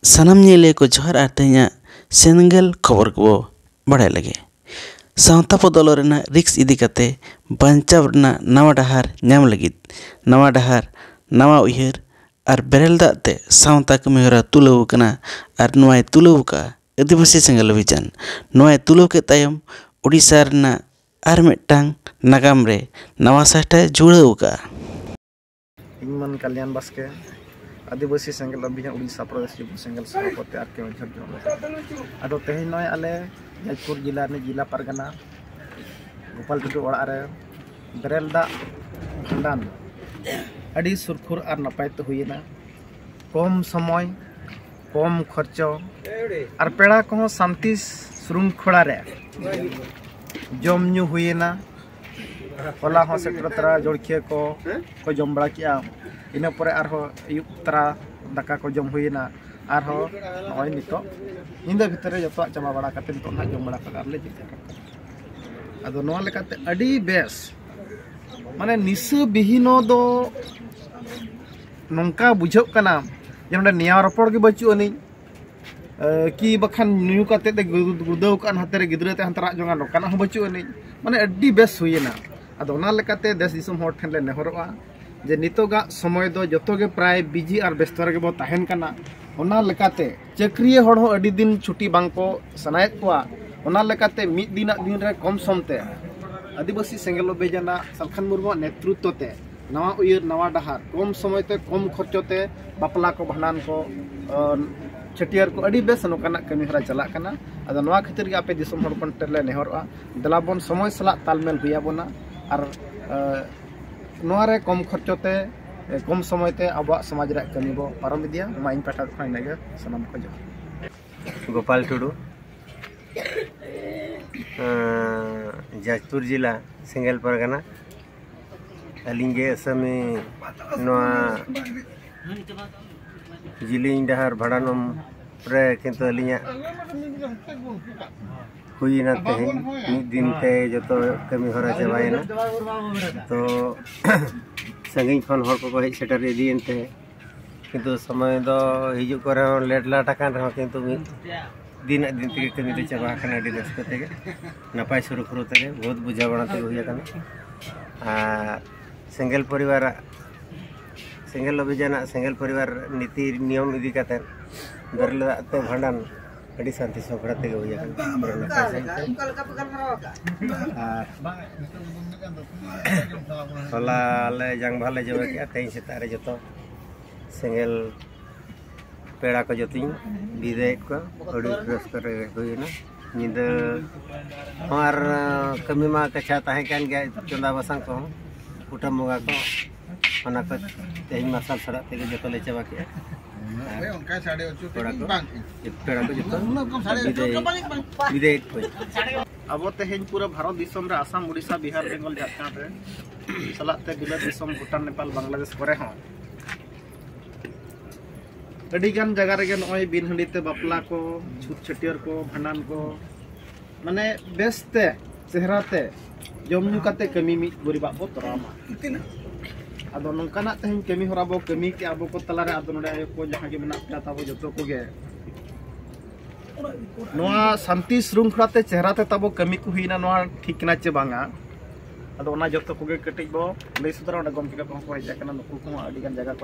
ᱥᱟᱱᱟᱢ ᱧᱮᱞᱤᱭᱟᱹ ᱠᱚ ᱡᱚᱦᱟᱨ ᱟᱨ ᱛᱮᱦᱮᱧᱟᱜ ᱥᱮᱱᱜᱮᱞ ᱠᱷᱚᱵᱚᱨ ᱠᱚ ᱵᱟᱲᱟᱭ ᱞᱟᱹᱜᱤᱫ ᱥᱟᱶᱛᱟ ᱵᱚᱫᱚᱞᱚᱜ ᱨᱮᱱᱟᱜ ᱨᱤᱠᱥ ᱤᱫᱤ ᱠᱟᱛᱮ ᱵᱟᱧᱪᱟᱣ ᱨᱮᱱᱟᱜ ᱱᱟᱣᱟ ᱰᱟᱦᱟᱨ ᱧᱟᱢ ᱞᱟᱹᱜᱤᱫ ᱱᱟᱣᱟ ᱰᱟᱦᱟᱨ ᱱᱟᱣᱟ ᱩᱭᱦᱟᱹᱨ ᱟᱨ ᱵᱮᱨᱮᱞ ᱫᱟᱜ ᱛᱮ ᱥᱟᱶᱛᱟ ᱠᱟᱹᱢᱤ ᱦᱚᱨᱟ ᱛᱩᱞᱟᱹᱣ ᱟᱠᱟᱱᱟ ᱟᱨ ᱱᱚᱣᱟᱭ ᱛᱩᱞᱟᱹᱣ ᱟᱠᱟᱫᱼᱟ ᱟᱹᱫᱤᱵᱟᱹᱥᱤ ᱥᱮᱸᱜᱮᱞ ᱚᱵᱷᱤᱡᱟᱱ ᱱᱚᱣᱟᱭ ᱛᱩᱞᱟᱹᱣ ᱠᱮᱫ ᱛᱟᱭᱚᱢ ᱳᱰᱤᱥᱟ ᱨᱮᱱᱟᱜ ᱟᱨ ᱢᱤᱫᱴᱟᱝ ᱱᱟᱜᱟᱢ ᱨᱮ ᱱᱟᱣᱟ ᱥᱟᱦᱴᱟᱭ ᱡᱩᱲᱟᱹᱣ ᱟᱠᱟᱫᱼᱟ ᱤᱧᱢᱟᱱ ᱠᱟᱞᱭᱟᱱ ᱵᱟᱥᱠᱮ ᱟᱹᱫᱤᱵᱟᱹᱥᱤ ᱥᱮᱸᱜᱮᱞ ᱚᱵᱷᱤᱡᱟᱱ ᱩᱲᱤᱥᱥᱟ ᱯᱨᱚᱫᱮᱥ ᱡᱩᱵᱚ ᱥᱮᱸᱜᱮᱞ ᱥᱚᱵᱷᱟᱯᱚᱛᱤ ᱟᱨ ᱠᱮ ᱚᱡᱷᱚᱨ ᱡᱚᱱ ᱟᱫᱚ ᱛᱮᱦᱮᱧ ᱱᱚᱜᱼᱚᱭ ᱟᱞᱮ ᱡᱟᱡᱽᱯᱩᱨ ᱡᱮᱞᱟ ᱨᱤᱱᱤᱡ ᱡᱮᱞᱟ ᱯᱟᱨᱜᱟᱱᱟ ᱜᱳᱯᱟᱞ ᱴᱩᱰᱩ ᱚᱲᱟᱜ ᱨᱮ ᱵᱮᱨᱮᱞ ᱫᱟᱜ ᱵᱷᱟᱸᱰᱟᱱ ᱟᱹᱰᱤ ᱥᱩᱨᱠᱷᱩᱨ ᱟᱨ ᱱᱟᱯᱟᱭ ᱛᱮ ᱦᱩᱭᱮᱱᱟ ᱠᱚᱢ ᱥᱚᱢᱚᱭ ᱠᱚᱢ ᱠᱷᱚᱨᱪᱚ ᱟᱨ ᱯᱮᱲᱟ ᱠᱚᱦᱚᱸ ᱥᱟᱱᱛᱤ ᱥᱨᱩᱝᱠᱷᱚᱲᱟ ᱨᱮ ᱡᱚᱢ ᱧᱩ ᱦᱩᱭᱮᱱᱟ ᱦᱚᱞᱟ ᱦᱚᱸ ᱥᱮᱴᱮᱨ ᱛᱚᱨᱟ ᱡᱚᱲᱠᱷᱤᱭᱟᱹ ᱠᱚ ᱠᱚ ᱡᱚᱢ ᱵᱟᱲᱟ ᱠᱮᱜᱼᱟ ᱤᱱᱟᱹ ᱯᱚᱨᱮ ᱟᱨᱦᱚᱸ ᱟᱹᱭᱩᱵ ᱛᱚᱨᱟ ᱫᱟᱠᱟ ᱠᱚ ᱡᱚᱢ ᱦᱩᱭᱮᱱᱟ ᱟᱨᱦᱚᱸ ᱱᱚᱜᱼᱚᱭ ᱱᱤᱛᱚᱜ ᱧᱤᱫᱟᱹ ᱵᱷᱤᱛᱨᱤ ᱨᱮ ᱡᱚᱛᱚᱣᱟᱜ ᱪᱟᱵᱟ ᱵᱟᱲᱟ ᱠᱟᱛᱮ ᱱᱤᱛᱚᱜ ᱱᱟᱦᱟᱜ ᱡᱚᱢ ᱵᱟᱲᱟ ᱠᱟᱛᱮ ᱟᱨᱞᱮ ᱡᱤᱨᱟᱹᱜ ᱠᱟᱱᱟ ᱟᱫᱚ ᱱᱚᱣᱟ ᱞᱮᱠᱟᱛᱮ ᱟᱹᱰᱤ ᱵᱮᱥ ᱢᱟᱱᱮ ᱱᱤᱥᱟᱹ ᱵᱤᱦᱤᱱᱚ ᱫᱚ ᱱᱚᱝᱠᱟ ᱵᱩᱡᱷᱟᱹᱜ ᱠᱟᱱᱟ ᱡᱮ ᱱᱚᱰᱮ ᱱᱮᱭᱟᱣ ᱨᱚᱯᱚᱲ ᱜᱮ ᱵᱟᱹᱪᱩᱜ ᱟᱹᱱᱤᱡ ᱠᱤ ᱵᱟᱠᱷᱟᱱ ᱧᱩ ᱠᱟᱛᱮ ᱜᱩᱫᱟᱹᱣ ᱠᱟᱱ ᱦᱟᱛᱮ ᱨᱮ ᱜᱤᱫᱽᱨᱟᱹ ᱛᱮ ᱦᱟᱱᱛᱮ ᱨᱟᱜ ᱡᱚᱝᱟ ᱱᱚᱠᱟᱱᱟᱜ ᱦᱚᱸ ᱵᱟᱹᱪᱩᱜ ᱟᱹᱱᱤᱡ ᱢᱟᱱᱮ ᱟᱹᱰᱤ ᱵᱮᱥ ᱦᱩᱭᱮᱱᱟ ᱟᱫᱚ ᱚᱱᱟ ᱞᱮᱠᱟᱛᱮ ᱫᱮᱥ ᱫᱤᱥᱚᱢ ᱦᱚᱲ ᱴᱷᱮᱱ ᱞᱮ ᱱᱮᱦᱚᱨᱚᱜᱼᱟ ᱡᱮ ᱱᱤᱛᱚᱜᱟᱜ ᱥᱚᱢᱚᱭ ᱫᱚ ᱡᱚᱛᱚ ᱜᱮ ᱯᱨᱟᱭ ᱵᱤᱡᱤ ᱟᱨ ᱵᱮᱥᱛᱚ ᱨᱮᱜᱮ ᱵᱚ ᱛᱟᱦᱮᱱ ᱠᱟᱱᱟ ᱚᱱᱟ ᱞᱮᱠᱟᱛᱮ ᱪᱟᱹᱠᱨᱤᱭᱟᱹ ᱦᱚᱲ ᱦᱚᱸ ᱟᱹᱰᱤ ᱫᱤᱱ ᱪᱷᱩᱴᱤ ᱵᱟᱝ ᱠᱚ ᱥᱟᱱᱟᱭᱮᱫ ᱠᱚᱣᱟ ᱚᱱᱟ ᱞᱮᱠᱟᱛᱮ ᱢᱤᱫ ᱫᱤᱱᱟᱜ ᱫᱤᱱ ᱨᱮ ᱠᱚᱢ ᱥᱚᱢ ᱛᱮ ᱟᱹᱫᱤᱵᱟᱹᱥᱤ ᱥᱮᱸᱜᱮᱞ ᱚᱵᱷᱤᱡᱟᱱᱟᱜ ᱥᱟᱞᱠᱷᱟᱱ ᱢᱩᱨᱢᱩᱣᱟᱜ ᱱᱮᱛᱨᱤᱛᱛᱚ ᱛᱮ ᱱᱟᱣᱟ ᱩᱭᱦᱟᱹᱨ ᱱᱟᱣᱟ ᱰᱟᱦᱟᱨ ᱠᱚᱢ ᱥᱚᱢᱚᱭ ᱛᱮ ᱠᱚᱢ ᱠᱷᱚᱨᱪᱚ ᱛᱮ ᱵᱟᱯᱞᱟ ᱠᱚ ᱵᱷᱟᱸᱰᱟᱱ ᱠᱚ ᱪᱷᱟᱹᱴᱭᱟᱹᱨ ᱠᱚ ᱟᱹᱰᱤ ᱵᱮᱥ ᱱᱚᱝᱠᱟᱱᱟᱜ ᱠᱟᱹᱢᱤ ᱦᱚᱨᱟ ᱪᱟᱞᱟᱜ ᱠᱟᱱᱟ ᱟᱫᱚ ᱱᱚᱣᱟ ᱠᱷᱟᱹᱛᱤᱨ ᱜᱮ ᱟᱯᱮ ᱫᱤᱥᱚᱢ ᱦᱚᱲ ᱠᱷᱚᱱ ᱴᱷᱮᱱ ᱞᱮ ᱱᱮᱦᱚᱨᱚᱜᱼᱟ ᱫᱮᱞᱟ ᱵᱚᱱ ᱥᱚᱢᱚᱭ ᱥᱟᱞᱟᱜ ᱛᱟᱞᱢᱮᱞ ᱦᱩᱭ ᱟᱵᱚᱱᱟ ᱟᱨ ᱱᱚᱣᱟ ᱨᱮ ᱠᱚᱢ ᱠᱷᱚᱨᱪᱚ ᱛᱮ ᱠᱚᱢ ᱥᱚᱢᱚᱭ ᱛᱮ ᱟᱵᱚᱣᱟᱜ ᱥᱚᱢᱟᱡᱽ ᱨᱮᱭᱟᱜ ᱠᱟᱹᱢᱤ ᱵᱚ ᱯᱟᱨᱚᱢ ᱤᱫᱤᱭᱟ ᱢᱟ ᱤᱧ ᱯᱟᱦᱴᱟ ᱠᱷᱚᱱ ᱤᱱᱟᱹᱜᱮ ᱥᱟᱱᱟᱢ ᱠᱚ ᱡᱚᱦᱟᱨ ᱜᱳᱯᱟᱞ ᱴᱩᱰᱩ ᱡᱟᱡᱽᱯᱩᱨ ᱡᱮᱞᱟ ᱥᱮᱸᱜᱮᱞ ᱯᱟᱨᱜᱟᱱᱟ ᱟᱹᱞᱤᱧ ᱜᱮ ᱟᱥᱟᱢᱤ ᱱᱚᱣᱟ ᱡᱤᱞᱤᱧ ᱰᱟᱦᱟᱨ ᱵᱷᱟᱲᱟᱱᱚᱢ ᱨᱮ ᱠᱤᱱᱛᱩ ᱟᱹᱞᱤᱧᱟᱜ ᱦᱩᱭᱮᱱᱟ ᱛᱮᱦᱮᱧ ᱢᱤᱫ ᱫᱤᱱ ᱛᱮ ᱡᱚᱛᱚ ᱠᱟᱹᱢᱤ ᱦᱚᱨᱟ ᱪᱟᱵᱟᱭᱮᱱᱟ ᱛᱚ ᱥᱟᱺᱜᱤᱧ ᱠᱷᱚᱱ ᱦᱚᱲ ᱠᱚᱠᱚ ᱦᱮᱡ ᱥᱮᱴᱮᱨ ᱤᱫᱤᱭᱮᱱ ᱛᱮ ᱠᱤᱱᱛᱩ ᱥᱚᱢᱚᱭ ᱫᱚ ᱦᱤᱡᱩᱜ ᱠᱚᱨᱮ ᱦᱚᱸ ᱞᱮᱴ ᱞᱟᱴ ᱟᱠᱟᱱ ᱨᱮᱦᱚᱸ ᱠᱤᱱᱛᱩ ᱢᱤᱫ ᱫᱤᱱᱟᱜ ᱫᱤᱱ ᱛᱮᱜᱮ ᱠᱟᱹᱢᱤ ᱫᱚ ᱪᱟᱵᱟ ᱟᱠᱟᱱᱟ ᱟᱹᱰᱤ ᱨᱟᱹᱥᱠᱟᱹ ᱛᱮᱜᱮ ᱱᱟᱯᱟᱭ ᱥᱩᱨᱩᱠᱷᱩᱨᱩ ᱛᱮᱜᱮ ᱵᱚᱦᱩᱛ ᱵᱩᱡᱷᱟᱹᱣ ᱵᱟᱲᱟ ᱛᱮᱜᱮ ᱦᱩᱭ ᱟᱠᱟᱱᱟ ᱟᱨ ᱥᱮᱸᱜᱮᱞ ᱯᱚᱨᱤᱵᱟᱨᱟᱜ ᱥᱮᱸᱜᱮᱞ ᱚᱵᱷᱤᱡᱟᱱᱟᱜ ᱥᱮᱸᱜᱮᱞ ᱯᱚᱨᱤᱵᱟᱨ ᱱᱤᱛᱤ ᱱᱤᱭᱚᱢ ᱤᱫᱤ ᱠᱟᱛᱮᱫ ᱵᱮᱨᱮᱞ ᱫᱟᱜ ᱛᱮ ᱵᱷᱟᱸᱰᱟᱱ ᱟᱹᱰᱤ ᱥᱟᱱᱛᱤ ᱥᱚᱵᱷᱨᱟ ᱛᱮᱜᱮ ᱦᱩᱭ ᱦᱚᱞᱟ ᱞᱮ ᱡᱟᱝ ᱵᱟᱦᱟ ᱞᱮ ᱡᱚᱢ ᱠᱮᱜᱼᱟ ᱛᱮᱦᱮᱧ ᱥᱮᱛᱟᱜ ᱨᱮ ᱡᱚᱛᱚ ᱥᱮᱸᱜᱮᱞ ᱯᱮᱲᱟ ᱠᱚ ᱡᱚᱛᱚᱧ ᱵᱤᱫᱟᱹᱭᱮᱫ ᱠᱚᱣᱟ ᱟᱹᱰᱤ ᱨᱟᱹᱥᱠᱟᱹ ᱨᱮ ᱦᱩᱭᱮᱱᱟ ᱧᱤᱫᱟᱹ ᱦᱚᱸ ᱟᱨ ᱠᱟᱹᱢᱤ ᱢᱟ ᱠᱟᱪᱷᱟ ᱛᱟᱦᱮᱸ ᱠᱟᱱ ᱜᱮᱭᱟ ᱪᱚᱸᱫᱟ ᱵᱟᱥᱟᱝ ᱠᱚᱦᱚᱸ ᱠᱩᱴᱟᱹᱢ ᱵᱚᱸᱜᱟ ᱠᱚ ᱚᱱᱟ ᱠᱚ ᱛᱮᱦᱮᱧ ᱢᱟᱨᱥᱟᱞ ᱥᱟᱞᱟᱜ ᱛᱮᱜᱮ ᱡᱚᱛᱚ ᱞᱮ ᱪᱟᱵᱟ ᱠᱮᱜᱼᱟ ᱯᱮᱲᱟ ᱠᱚ ᱯᱮᱲᱟ ᱠᱚ ᱡᱚᱛᱚ ᱵᱤᱫᱟᱹᱭ ᱠᱷᱚᱡ ᱟᱵᱚ ᱛᱮᱦᱮᱧ ᱯᱩᱨᱟᱹ ᱵᱷᱟᱨᱚᱛ ᱫᱤᱥᱚᱢ ᱨᱮ ᱟᱥᱟᱢ ᱩᱲᱤᱥᱥᱟ ᱵᱤᱦᱟᱨ ᱵᱮᱝᱜᱚᱞ ᱡᱷᱟᱲᱠᱷᱚᱸᱰ ᱨᱮ ᱥᱟᱞᱟᱜ ᱛᱮ ᱵᱤᱞᱟᱹᱛ ᱫᱤᱥᱚᱢ ᱵᱷᱩᱴᱟᱱ ᱱᱮᱯᱟᱞ ᱵᱟᱝᱞᱟᱫᱮᱥ ᱠᱚᱨᱮ ᱦᱚᱸ ᱟᱹᱰᱤ ᱜᱟᱱ ᱡᱟᱭᱜᱟ ᱨᱮᱜᱮ ᱱᱚᱜᱼᱚᱭ ᱵᱤᱱ ᱦᱟᱺᱰᱤ ᱛᱮ ᱵᱟᱯᱞᱟ ᱠᱚ ᱪᱷᱩᱛ ᱪᱷᱟᱹᱴᱭᱟᱹᱨ ᱠᱚ ᱵᱷᱟᱸᱰᱟᱱ ᱠᱚ ᱢᱟᱱᱮ ᱵᱮᱥ ᱛᱮ ᱪᱮᱦᱨᱟ ᱛᱮ ᱡᱚᱢ ᱧᱩ ᱠᱟᱛᱮ ᱠᱟᱹᱢᱤ ᱢᱤᱫ ᱜᱚᱨᱤᱵᱟᱜ ᱵᱚ ᱛᱚᱨᱟᱣ ᱢᱟ ᱟᱫᱚ ᱱᱚᱝᱠᱟᱱᱟᱜ ᱛᱮᱦᱮᱧ ᱠᱟᱹᱢᱤ ᱦᱚᱨᱟ ᱵᱚ ᱠᱟᱹᱢᱤ ᱠᱮᱜᱼᱟ ᱟᱵᱚ ᱠᱚ ᱛᱟᱞᱟᱨᱮ ᱟᱫᱚ ᱱᱚᱰᱮ ᱟᱭᱳ ᱠᱚ ᱡᱟᱦᱟᱸ ᱜᱮ ᱢᱮᱱᱟᱜ ᱯᱮᱭᱟ ᱛᱟᱵᱚ ᱡᱚᱛᱚ ᱠᱚᱜᱮ ᱱᱚᱣᱟ ᱥᱟᱱᱛᱤ ᱥᱨᱩᱝᱠᱷᱚᱞᱟ ᱛᱮ ᱪᱮᱦᱨᱟ ᱛᱮ ᱛᱟᱵᱚ ᱠᱟᱹᱢᱤ ᱠᱚ ᱦᱩᱭᱱᱟ ᱱᱚᱣᱟ ᱴᱷᱤᱠ ᱠᱟᱱᱟ ᱪᱮ ᱵᱟᱝᱟ ᱟᱫᱚ ᱚᱱᱟ ᱡᱚᱛᱚ ᱠᱚᱜᱮ ᱠᱟᱹᱴᱤᱡ ᱵᱚ ᱞᱟᱹᱭ ᱥᱚᱫᱚᱨᱟ ᱚᱸᱰᱮ ᱜᱚᱢᱠᱮ ᱠᱚᱦᱚᱸ ᱠᱚ ᱦᱮᱡ ᱟᱠᱟᱱᱟ ᱱᱩᱠᱩ ᱠᱚᱦᱚᱸ ᱟᱹᱰᱤ ᱜᱟᱱ ᱡᱟᱭᱜᱟ ᱠᱚ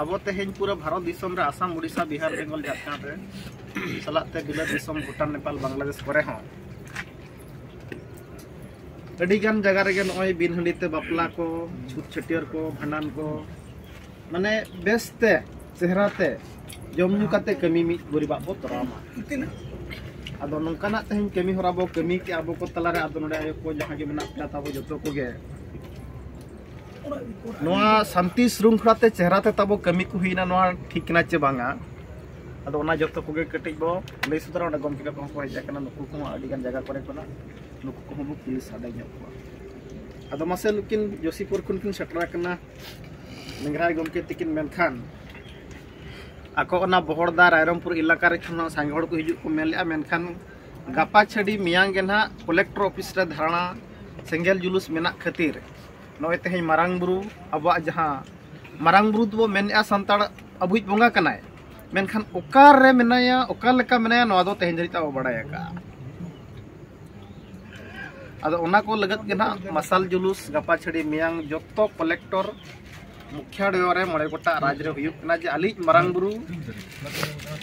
ᱟᱵᱚ ᱛᱮᱦᱮᱧ ᱯᱩᱨᱟᱹ ᱵᱷᱟᱨᱚᱛ ᱫᱤᱥᱚᱢ ᱨᱮ ᱟᱥᱟᱢ ᱩᱲᱤᱥᱥᱟ ᱵᱤᱦᱟᱨ ᱵᱮᱝᱜᱚᱞ ᱡᱷᱟᱲᱠᱷᱚᱸᱰ ᱨᱮ ᱥᱟᱞᱟᱜ ᱛᱮ ᱵᱤᱞᱟᱹᱛ ᱫᱤᱥᱚᱢ ᱵᱷᱩᱴᱟᱱ ᱱᱮᱯᱟᱞ ᱵᱟᱝᱞᱟᱫᱮᱥ ᱠᱚᱨᱮ ᱦᱚᱸ ᱟᱹᱰᱤ ᱜᱟᱱ ᱡᱟᱭᱜᱟ ᱨᱮᱜᱮ ᱱᱚᱜᱼᱚᱭ ᱵᱤᱱ ᱦᱟᱺᱰᱤ ᱛᱮ ᱵᱟᱯᱞᱟ ᱠᱚ ᱪᱷᱩᱛ ᱪᱷᱟᱹᱴᱭᱟᱹᱨ ᱠᱚ ᱵᱷᱟᱸᱰᱟᱱ ᱠᱚ ᱢᱟᱱᱮ ᱵᱮᱥ ᱛᱮ ᱪᱮᱦᱨᱟ ᱛᱮ ᱡᱚᱢ ᱧᱩ ᱠᱟᱛᱮ ᱠᱟᱹᱢᱤ ᱢᱤᱫ ᱜᱚᱨᱤᱵᱟᱜ ᱵᱚ ᱛᱚᱨᱟᱣ ᱢᱟ ᱟᱫᱚ ᱱᱚᱝᱠᱟᱱᱟᱜ ᱛᱮᱦᱮᱧ ᱠᱟᱹᱢᱤ ᱦᱚᱨᱟ ᱵᱚ ᱠᱟᱹᱢᱤ ᱠᱮᱜᱼᱟ ᱟᱵᱚ ᱠᱚ ᱛᱟᱞᱟᱨᱮ ᱟᱫᱚ ᱱᱚᱰᱮ ᱟᱭᱳ ᱠᱚ ᱡᱟᱦᱟᱸ ᱜᱮ ᱢᱮᱱᱟᱜ ᱯᱮᱭᱟ ᱛᱟᱵᱚ ᱡᱚᱛᱚ ᱠᱚᱜᱮ ᱱᱚᱣᱟ ᱥᱟᱱᱛᱤ ᱥᱨᱩᱝᱠᱷᱚᱞᱟ ᱛᱮ ᱪᱮᱦᱨᱟ ᱛᱮ ᱛᱟᱵᱚ ᱠᱟᱹᱢᱤ ᱠᱚ ᱦᱩᱭᱱᱟ ᱱᱚᱣᱟ ᱴᱷᱤᱠ ᱠᱟᱱᱟ ᱪᱮ ᱵᱟᱝᱟ ᱟᱫᱚ ᱚᱱᱟ ᱡᱚᱛᱚ ᱠᱚᱜᱮ ᱠᱟᱹᱴᱤᱡ ᱵᱚ ᱞᱟᱹᱭ ᱥᱚᱫᱚᱨᱟ ᱚᱸᱰᱮ ᱜᱚᱢᱠᱮ ᱠᱚᱦᱚᱸ ᱠᱚ ᱦᱮᱡ ᱟᱠᱟᱱᱟ ᱱᱩᱠᱩ ᱠᱚᱦᱚᱸ ᱟᱹᱰᱤ ᱜᱟᱱ ᱡᱟᱭᱜᱟ ᱠᱚᱨᱮ ᱠᱷᱚᱱᱟᱜ ᱱᱩᱠᱩ ᱠᱚᱦᱚᱸ ᱵᱚ ᱠᱩᱞᱤ ᱥᱟᱰᱮ ᱧᱚᱜ ᱠᱚᱣᱟ ᱟᱫᱚ ᱢᱟᱥᱮ ᱱᱩᱠᱤᱱ ᱡᱳᱥᱤᱯᱩᱨ ᱠᱷᱚᱱ ᱠᱤᱱ ᱥᱮᱴᱮᱨ ᱟᱠᱟᱱᱟ ᱱᱤᱝᱨᱟᱭ ᱜᱚᱢᱠᱮ ᱛᱤᱠᱤᱱ ᱢᱮᱱᱠᱷᱟᱱ ᱟᱠᱚ ᱚᱱᱟ ᱵᱚᱦᱚᱲᱫᱟ ᱨᱟᱭᱨᱚᱢᱯᱩᱨ ᱮᱞᱟᱠᱟ ᱨᱮ ᱠᱷᱚᱱ ᱥᱟᱸᱜᱮ ᱦᱚᱲ ᱠᱚ ᱦᱤᱡᱩᱜ ᱠᱚ ᱢᱮᱱ ᱞᱮᱫᱼᱟ ᱢᱮᱱᱠᱷᱟᱱ ᱜᱟᱯᱟ ᱪᱷᱟᱹᱰᱤ ᱢᱮᱭᱟᱝ ᱜᱮ ᱱᱟᱦᱟᱜ ᱠᱚᱞᱮᱠᱴᱚᱨ ᱚᱯᱷᱤᱥ ᱨᱮ ᱫᱷᱟᱨᱟᱱᱟ ᱥᱮᱸᱜᱮᱞ ᱡᱩᱞᱩᱥ ᱢᱮᱱᱟᱜ ᱠᱷᱟᱹᱛᱤᱨ ᱱᱚᱜᱼᱚᱭ ᱛᱮᱦᱮᱧ ᱢᱟᱨᱟᱝ ᱵᱩᱨᱩ ᱟᱵᱚᱣᱟᱜ ᱡᱟᱦᱟᱸ ᱢᱟᱨᱟᱝ ᱵᱩᱨᱩ ᱫᱚᱵᱚ ᱢᱮᱱᱮᱫᱼᱟ ᱥᱟᱱᱛᱟᱲ ᱟᱵᱚᱭᱤᱡ ᱵᱚᱸᱜᱟ ᱠᱟᱱᱟᱭ ᱢᱮᱱᱠᱷᱟᱱ ᱚᱠᱟᱨᱮ ᱢᱮᱱᱟᱭᱟ ᱚᱠᱟ ᱞᱮᱠᱟ ᱢᱮᱱᱟᱭᱟ ᱱᱚᱣᱟ ᱫᱚ ᱛᱮᱦᱮᱧ ᱫᱷᱟᱹᱨᱤᱡ ᱛᱮ ᱵᱟᱵᱚ ᱵᱟᱲᱟᱭ ᱟᱠᱟᱫᱼᱟ ᱟᱫᱚ ᱚᱱᱟ ᱠᱚ ᱞᱟᱹᱜᱤᱫ ᱜᱮ ᱱᱟᱜ ᱢᱟᱥᱟᱞ ᱡᱩᱞᱩᱥ ᱜᱟᱯᱟ ᱪᱷᱟᱹᱲᱤ ᱢᱮᱭᱟᱝ ᱡᱚᱛᱚ ᱠᱚᱞᱮᱠᱴᱚᱨ ᱢᱩᱠᱷᱭᱟ ᱰᱚᱭᱚ ᱨᱮ ᱢᱚᱬᱮ ᱜᱚᱴᱟᱜ ᱨᱟᱡᱽ ᱨᱮ ᱦᱩᱭᱩᱜ ᱠᱟᱱᱟ ᱡᱮ ᱟᱹᱞᱤᱡ ᱢᱟᱨᱟᱝ ᱵᱩᱨᱩ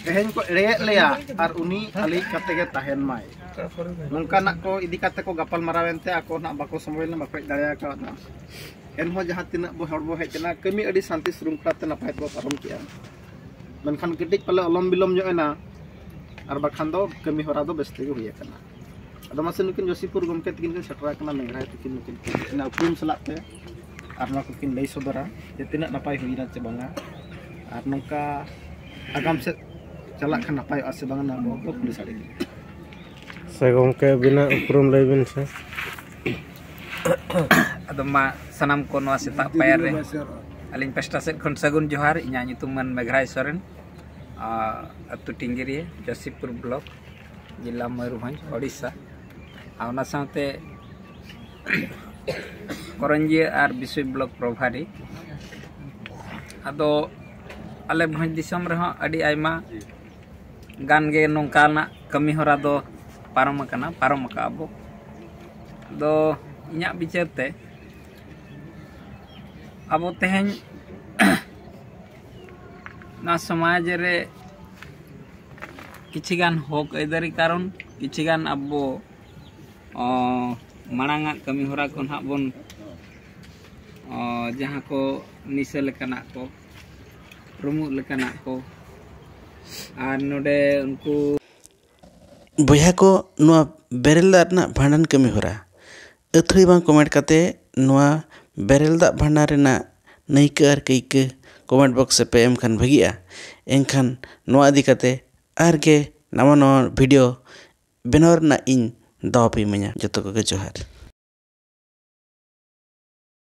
ᱛᱮᱦᱮᱧ ᱠᱚ ᱮᱲᱮᱭᱮᱫ ᱞᱮᱭᱟ ᱟᱨ ᱩᱱᱤ ᱟᱹᱞᱤᱡ ᱠᱟᱛᱮ ᱜᱮ ᱛᱟᱦᱮᱱ ᱢᱟᱭ ᱱᱚᱝᱠᱟᱱᱟᱜ ᱠᱚ ᱤᱫᱤ ᱠᱟᱛᱮ ᱠᱚ ᱜᱟᱯᱟᱞ ᱢᱟᱨᱟᱣ ᱮᱱᱛᱮ ᱟᱠᱚ ᱱᱟᱜ ᱵᱟᱠᱚ ᱥᱚᱢᱚᱭ ᱞᱮᱱᱟ ᱵᱟᱠᱚ ᱦᱮᱡ ᱫᱟᱲᱮ ᱟᱠᱟᱣᱫᱟ ᱮᱱᱦᱚᱸ ᱡᱟᱦᱟᱸ ᱛᱤᱱᱟᱹᱜ ᱵᱚ ᱦᱚᱲ ᱵᱚ ᱦᱮᱡ ᱮᱱᱟ ᱠᱟᱹᱢᱤ ᱟᱹᱰᱤ ᱥᱟᱱᱛᱤ ᱥᱨᱩᱝᱠᱷᱚᱞᱟ ᱛᱮ ᱱᱟᱯᱟᱭ ᱛᱮᱵᱚ ᱯᱟᱨᱚᱢ ᱠᱮᱜᱼᱟ ᱢᱮᱱᱠᱷᱟᱱ ᱠᱟᱹᱴᱤᱡ ᱯᱟᱞᱮ ᱚᱞᱚᱢ ᱵᱤᱞᱚᱢ ᱧᱚᱜ ᱮᱱᱟ ᱟᱨ ᱵᱟᱠᱷᱟᱱ ᱫᱚ ᱠᱟᱹᱢᱤ ᱦᱚᱨᱟ ᱫᱚ ᱵᱮᱥ ᱛᱮᱜᱮ ᱦᱩᱭ ᱟᱠᱟᱱᱟ ᱟᱫᱚ ᱢᱟᱥᱮ ᱱᱩᱠᱤᱱ ᱡᱚᱥᱤᱯᱩᱨ ᱜᱚᱢᱠᱮ ᱛᱟᱹᱠᱤᱱ ᱠᱤᱱ ᱥᱮᱴᱮᱨ ᱟᱠᱟᱱᱟ ᱢᱮᱜᱷᱨᱟᱭ ᱛᱟᱹᱠᱤᱱ ᱱᱩᱠᱤᱱ ᱚᱱᱟ ᱩᱯᱨᱩᱢ ᱥᱟᱞᱟᱜ ᱛᱮ ᱟᱨ ᱱᱚᱣᱟ ᱠᱚᱠᱤᱱ ᱞᱟᱹᱭ ᱥᱚᱫᱚᱨᱟ ᱡᱮ ᱛᱤᱱᱟᱹᱜ ᱱᱟᱯᱟᱭ ᱦᱩᱭᱱᱟ ᱪᱮ ᱵᱟᱝᱟ ᱟᱨ ᱱᱚᱝᱠᱟ ᱟᱜᱟᱢ ᱥᱮᱫ ᱪᱟᱞᱟᱜ ᱠᱷᱟᱱ ᱱᱟᱯᱟᱭᱚᱜᱼᱟ ᱥᱮ ᱵᱟᱝᱟ ᱱᱚᱣᱟ ᱠᱚ ᱠᱩᱞᱤ ᱥᱟᱰᱮ ᱠᱤᱱ ᱥᱮ ᱜᱚᱢᱠᱮ ᱟᱹᱵᱤᱱᱟᱜ ᱩᱯᱨᱩᱢ ᱞᱟᱹᱭ ᱵᱤᱱ ᱥᱮ ᱟᱫᱚ ᱢᱟ ᱥᱟᱱᱟᱢ ᱠᱚ ᱱᱚᱣᱟ ᱥᱮᱛᱟᱜ ᱯᱟᱭᱟᱨ ᱨᱮ ᱟᱹᱞᱤᱧ ᱯᱟᱥᱴᱟ ᱥᱮᱫ ᱠᱷᱚᱱ ᱥᱟᱹᱜᱩᱱ ᱡᱚᱦᱟᱨ ᱤᱧᱟᱹᱜ ᱧᱩᱛᱩᱢ ᱢᱟᱱ ᱢᱮᱜᱷᱨᱟᱭ ᱥᱚᱨᱮᱱ ᱟᱹᱛᱩ ᱴᱤᱝᱜᱤᱨᱤᱭᱟᱹ ᱡᱚᱥᱤᱯᱩᱨ ᱵᱞᱚᱠ ᱡᱮᱞᱟ ᱢᱚᱭᱩᱨᱵᱷᱚᱸᱡᱽ ᱳᱰᱤᱥᱟ ᱟᱨ ᱚᱱᱟ ᱥᱟᱶᱛᱮ ᱠᱚᱨᱚᱧᱡᱤᱭᱟᱹ ᱟᱨ ᱵᱤᱥᱩᱭ ᱵᱞᱚᱠ ᱯᱨᱚᱵᱷᱟᱨᱤ ᱟᱫᱚ ᱟᱞᱮ ᱵᱷᱚᱸᱡᱽ ᱫᱤᱥᱚᱢ ᱨᱮᱦᱚᱸ ᱟᱹᱰᱤ ᱟᱭᱢᱟ ᱜᱟᱱ ᱜᱮ ᱱᱚᱝᱠᱟᱱᱟᱜ ᱠᱟᱹᱢᱤ ᱦᱚᱨᱟ ᱫᱚ ᱯᱟᱨᱚᱢ ᱟᱠᱟᱱᱟ ᱯᱟᱨᱚᱢ ᱟᱠᱟᱫ ᱟᱵᱚ ᱟᱫᱚ ᱤᱧᱟᱹᱜ ᱵᱤᱪᱟᱹᱨ ᱛᱮ ᱟᱵᱚ ᱛᱮᱦᱮᱧ ᱱᱚᱣᱟ ᱥᱚᱢᱟᱡᱽ ᱨᱮ ᱠᱤᱪᱷᱤ ᱜᱟᱱ ᱦᱚᱠ ᱟᱹᱭᱫᱟᱹᱨᱤ ᱠᱟᱨᱚᱱ ᱠᱤᱪᱷᱤ ᱜᱟᱱ ᱟᱵᱚ ᱢᱟᱲᱟᱝ ᱟᱜ ᱠᱟᱹᱢᱤ ᱦᱚᱨᱟ ᱠᱚ ᱱᱟᱦᱟᱜ ᱵᱚᱱ ᱡᱟᱦᱟᱸ ᱠᱚ ᱱᱤᱥᱟᱹ ᱞᱮᱠᱟᱱᱟᱜ ᱠᱚ ᱨᱩᱢᱩᱜ ᱞᱮᱠᱟᱱᱟᱜ ᱠᱚ ᱟᱨ ᱱᱚᱰᱮ ᱩᱱᱠᱩ ᱵᱚᱭᱦᱟ ᱠᱚ ᱱᱚᱣᱟ ᱵᱮᱨᱮᱞ ᱫᱟᱜ ᱨᱮᱱᱟᱜ ᱵᱷᱟᱸᱰᱟᱱ ᱠᱟᱹᱢᱤ ᱦᱚᱨᱟ ᱟᱹᱛᱷᱟᱹᱲᱤ ᱵᱟᱝ ᱠᱚᱢᱮᱱᱴ ᱠᱟᱛᱮ ᱱᱚᱣᱟ ᱵᱮᱨᱮᱞ ᱫᱟᱜ ᱵᱷᱟᱸᱰᱟᱱ ᱨᱮᱱᱟᱜ ᱱᱟᱹᱭᱠᱟᱹ ᱟᱨ ᱠᱟᱹᱭᱠᱟᱹ ᱠᱚᱢᱮᱱᱴ ᱵᱚᱠᱥ ᱨᱮᱯᱮ ᱮᱢ ᱠᱷᱟᱱ ᱵᱷᱟᱹᱜᱤᱜᱼᱟ ᱮᱱᱠᱷᱟᱱ ᱱᱚᱣᱟ ᱤᱫᱤ ᱠᱟᱛᱮ ᱟᱨ ᱜᱮ ᱱᱟᱣᱟ ᱱᱟᱣᱟ ᱵᱷᱤᱰᱤᱭᱳ ᱵᱮᱱᱟᱣ ᱨᱮᱱᱟᱜ ᱤᱧ ᱫᱟᱣ ᱯᱮ ᱤᱢᱟᱹᱧᱟ ᱡᱚᱛᱚ ᱠᱚᱜᱮ ᱡᱚᱦᱟᱨ